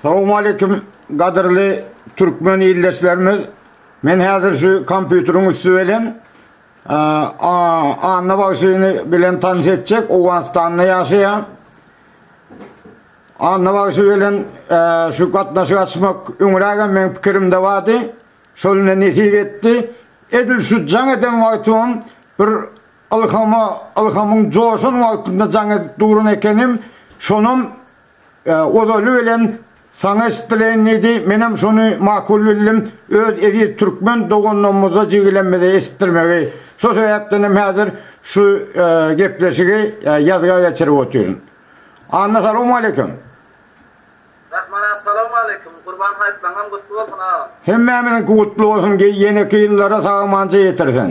Salowmaleýkim gadyrly türkmen ildeşlerimiz. Men häzir şu kompýuteriň üsti bilen Anna bagşyny bilen tanyş etjek, Owganystanda ýaşaýar. Anna bagşy bilen şu gatnaşyk açmak öňrägem meň pikirimde bardy. Şol ine nesip etdi. Edil şu jaň eden wagtymam bir Ylhama ylhamyň joşan wagtynda jaň edip duran ekenim, şonam ozaly bilen saňa eşitdireýin diýdi, menem şony makul bildim, öz eziz türkmen doganlarymyza, jigilemize eşitdirmegi. Şo sebäpdenem häzir şu gepleşigi ýazga geçirip otyryn. Anna salawmaleýkim. Rahmana salawmaleýkim. Gurban haýtlaňam gutly bolsun agam. Hemmämiziňki gutly bolsun, ýeneki ýyllara sag-amança ýetirsin.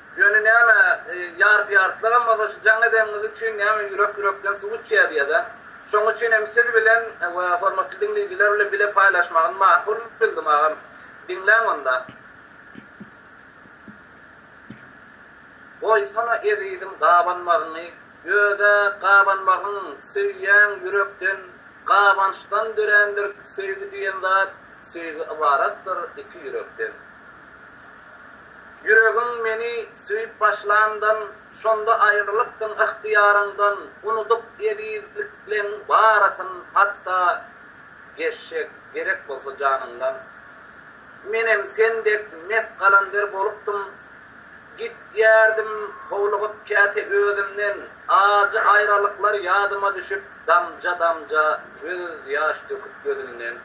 Ýöne näme, ýarpy-ýarpylagam bolsa şu jaň edeniňiz üçin näme ýürek-ýürekden suw içýär diýä-dä. Şoň üçin hem siz bilen we hormatly diňleýjiler bilen bile paýlaşmagyny makul bildim agam. Diňläň onda. Goýsana ezizim gabanmagyňy, öz-ä gabanmagyň söýýäň ýürekden, gabançdan dörändir söýgi diýen zat. Söýgi ybaratdyr iki ýürekden. Ýüregiň meni söýüp başlandan, Şonda aýrylypdyň ygtyýaryňdan, Unudyp ezizlikleň barysyn, hatda Geçjek gerek bolsa janyňdan. Menem sen dek mes galandir bolupdym, Gitýärdim howlugyp käte özümden, Ajy aýralyklar ýadyma düşüp, Damja-damja gözýaş döküp gözümden.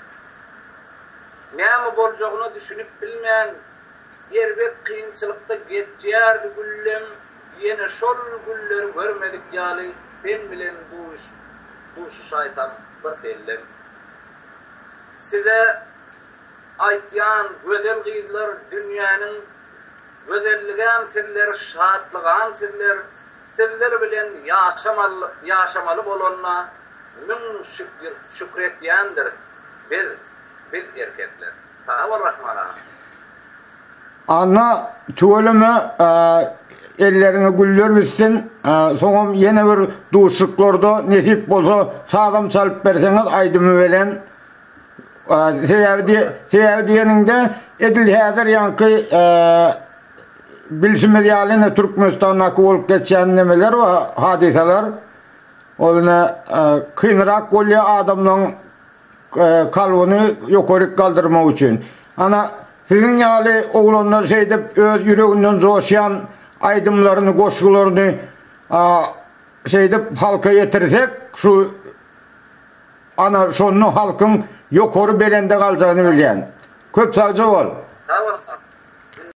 Näme boljagyna düşünip bilmän, erbet kynçylykda geçýärdi Güllem ýene şol günleri görmedik ýaly sen bilen duşuşaýsam bir sellem. Size aýtýan gözel gyzlar dünýäniň gözelligem sizler şatlygam sizler Sizler bilen ýaşamaly bolanyna müň şükür etýändir biz biz erkekler. Sag bol Rahman aga. Anna tüweleme elleriňe güller bitsin soňam ýene bir duşuşyklarda nesip bolsa sazam çalyp berseňiz aýdymy belen. Sebäbi sebäbi diýeniňde edil häzir ýaňky bilşimiz ýaly ine Türkmenistandaky bolup geçýän nemeler we hadysalar ol ine kynrak bolýar adamlaryň kalbyny ýokaryk galdyrmak üçin. Ana siziň ýaly oglanlar şeýdip öz ýüreginden joşýan aýdymlaryny goşgularyny şeýdip halka ýetirsek şu Ana şonda halkyň ýokary belende galjagyny bilýän. Köp sagja bol. Sag bol.